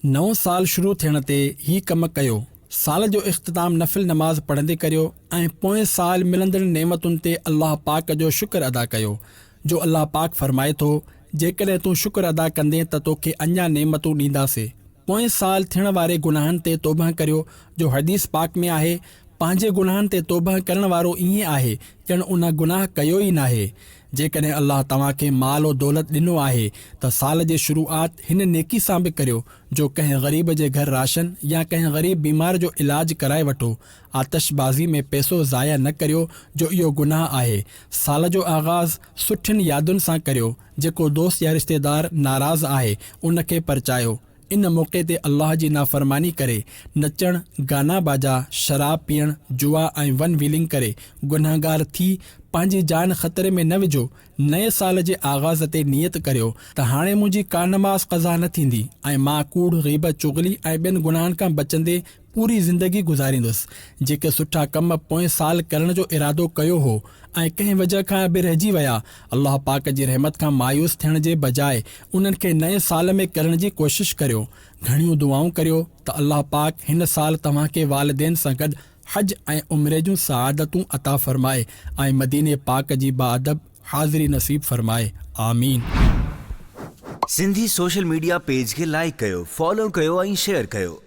نئون سال شروع ٿيڻ تي هي ڪم ڪيو. سال جو اختتام نفل نماز پڙهندي ڪريو ۽ پوئين سال ملندڙ نعمتن تي الله پاڪ جو شڪر ادا ڪيو، جو الله پاڪ فرمائي ٿو، جيڪڏهن تون شڪر ادا ڪندين ته توکي اڃا نعمتون ڏينداسين. پوئين سال ٿيڻ واري گناهن تي توبهه ڪريو، جو حديث پاڪ ۾ آهي، پنهنجي گناهن تي توبهه ڪرڻ وارو ائين آهي ڄڻ ان گناهه ڪيو ئي ناهي. جيڪڏهن الله توهان کي مال و دولت ڏنو آهي ته سال جي شروعات هن نيڪي سان به ڪريو جو ڪنهن غريب جي گهر راشن يا ڪنهن غريب بيمار جو علاج ڪرائي وٺو. آتش بازي ۾ پيسو ضايع نه ڪريو جو اهو گناهه آهي. سال جو آغاز سٺين يادن سان ڪريو. جيڪو دوست يا رشتيدار ناراض آهي ان کي پرچايو. ان موقعي تي الله جي نافرماني ڪري نچڻ، گانا باجا، شراب پيئڻ، جوا ۽ ون ويلنگ ڪري گنهگار ٿي پنهنجي جان خطري ۾ نه وجهو، نئين سال جي آغاز تي نيت ڪريو ته هاڻي منهنجي ڪا نماز قضا نه ٿيندي ۽ مان ڪوڙ، غيبت، چغلي ۽ ٻين گناهن کان بچندي پوري زندگي گذاريندس. جيڪي سٺا ڪم پوئين سال ڪرڻ جو ارادو ڪيو هو ۽ ڪنهن وجهه کان اڀي رهجي ويا، الله پاڪ جي رحمت کان مايوس ٿيڻ جي بجاء انهن کي نئين سال ۾ ڪرڻ جي ڪوشش ڪريو. گهڻيون دعائون ڪريو ته الله پاڪ هن سال توهان کي والدين سان گڏ حج ۽ عمري جون سعادتون عطا فرمائي ۽ مديني پاڪ جي باادب حاضري نصيب فرمائي. آمين. سنڌي سوشل ميڊيا پيج کي لائيڪ ڪيو، فالو ڪيو ۽ شيئر ڪيو.